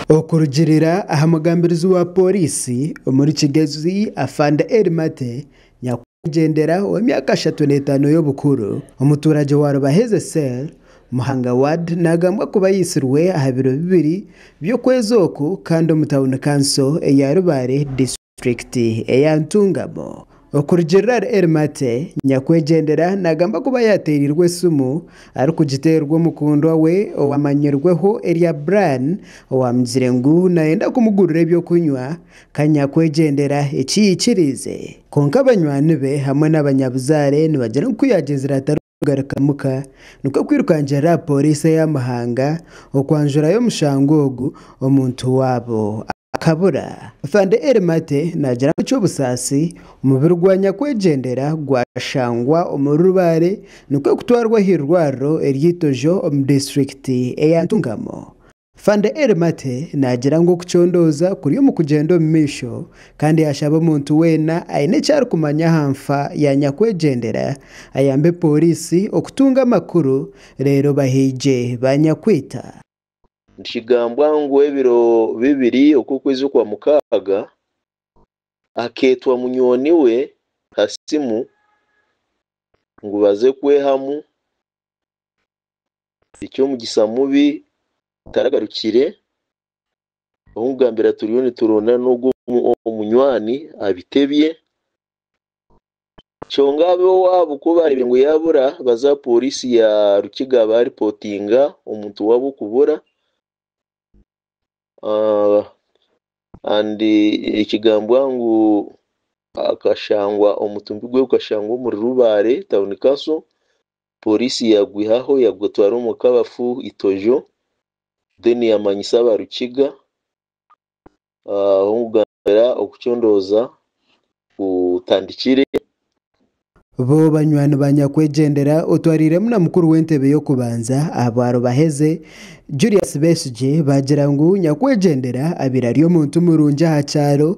Okurugiirira aha mugambirizi wa pooriisi omuri Kigezi Afande Elly Maate Nyakwigendera ow'emyaka ashatu n'etaano y'obukuru, omuturagye wa Rubaheze cell, Muhanga ward nagambwa kuba aitsirwe aha biro bibiri by'okwezi oku kandi omu tauni kanso eya Rubare district. Disitulikiti eya Ntungamo. Okurugirira Eri Mate, nyakwegyendera nagamba kuba yateereirwe esimu arikugiteerwa omukundwa we owamanyirweho erya Brian owamugire ngu nayenda kumugurira eby'okunywa ka nyakwegyendera ekiyaikiriize kwonka banywani be hamwe n'abanyabuzaare nibagira ngu kuyagyezire atari kugaruka muka nikwo kwirukangirira aha pooriisi eya Muhanga okwanjurayo omushango ogu omuntu waabo akabura. Afande Eli Mate naagira ngu eky'obusaasi omubiri gwa nyakwegyendera gwashangwa omuri Rubare nikwo kutwarwa aha irwariro erya Itojo omu disiturikiti eya Ntungamo. Fande Eri Mate naagira ngu okucondooza kuri omu kugyenda omu maisho kandi yaashaba omuntu weena aine eki arikumanya aha nfa ya nyakwegyendera ayambe pooriisi okutunga amakuru reero bahiigye ba nyakwita. Nikigambwa ngu ebiro bibiri oku okwezi okwa mukaaga, akeetwa munywani we ha simu ngu baze kwehamu eky'omugyisa mubi gutaragarukire, ow'okugambira turiyo niturondana n'ogwo munywani abitebye, kyonga ab'ewaabo ku baarebire ngu yabura baza aha poriisi ya Rukiga baaripotinga omuntu waabo kubura. kandi ekigambwa ngu omutumbi gwe gukashangwa omuri Rubare town council Police yagwihaho yagutwara omu kabafu itojo then yamanyisa aba Rukiga ahu okucondoza kutandikire. Bo banywani ba nyakwegyendera otwariiremu na mukuru w'entebe y'okubanza aha bwarubaheze, Julius Besigye baagira ngu nyakwegyendera abaire ari omuntu murungi aha kyaro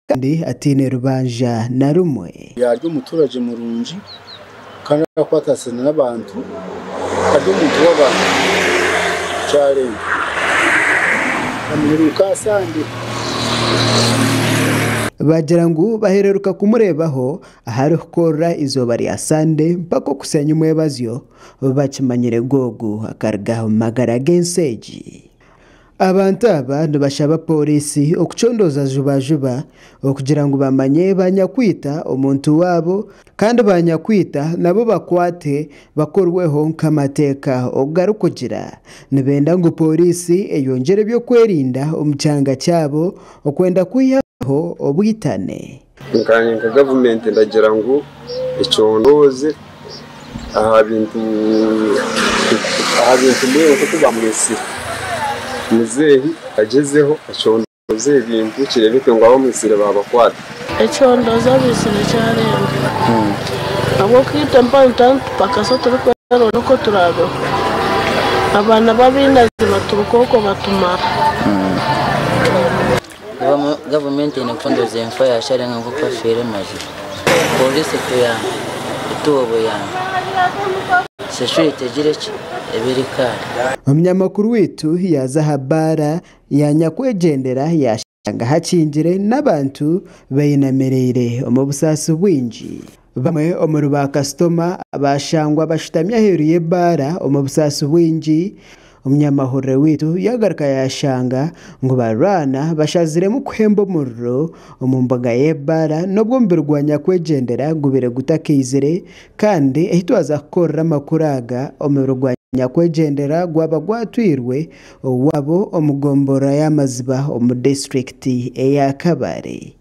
kandi ataine rubanja na rumwe. Yaari omuturagye murungi kandi arakwatasine n'abantu ari omuntu w'abantu. Kyarenga amuheruka aha sande. Baagira ngu bahereruka kumureebaho Ahari kukorera eizooba rya Sande mpaka okuseenya omwebazyo, bakimanyire Googu akaruga omu magara g'ensi egi. Abantu aba nibashaba pooriisi okucondooza juba juba okugira ngu bamanye ba nyakwita omuntu waabo kandi ba nyakwita nabo bakwatwe bakorweho nk'amateeka oku garikugira. Nibenda ngu pooriisi eyongyere eby'okwerinda omu kyanga kyabo okwenda kwihaho obwitane. Nkanye nka gavumenti ndagira ngu econdoze aha bintu mbwenu nkoku bamwitsire muzeeyi agyezeho acondoze ebintu kirebeke ngu abamwitsire babakwata. Econdoze abaitsire kyarenga ahabwokuba itwe mpaho nitwaba nitupakasa turikwerondera oku turabeho abaana babinazi baturuka okwo batumara. Gavumenti eine kucondoza enfa ya Sharenga nk'oku afiire mazima Pooriisi etuyambe, etuhe obuyambi. Sheshu yaitu egire ki? Ebe eri kaare. Omunyamakuru waitu yaaza aha bbaara ya nyakwegyendera yaashanga hakingire n'abantu bainamirire omu busaasi bwingi. Bamwe omuri ba kasitoma baashangwa bashutami aheeru y'ebaara omu busaasi bwingi. Omunyamahurire waitu yaagaruka yaashanga ngu barwana bashaziremu kuhemba omuriro omu mbuga y'ebaara n'obu omubiri gwa nyakwegyendera gubaire gutakaizire kandi ahu twaza kukorera amakuru aga, omubiri gwa nyakwegyendera gwaba gwatwirwe owaabo omu gomborora ya Maziba omu disiturikiti eya Kabale.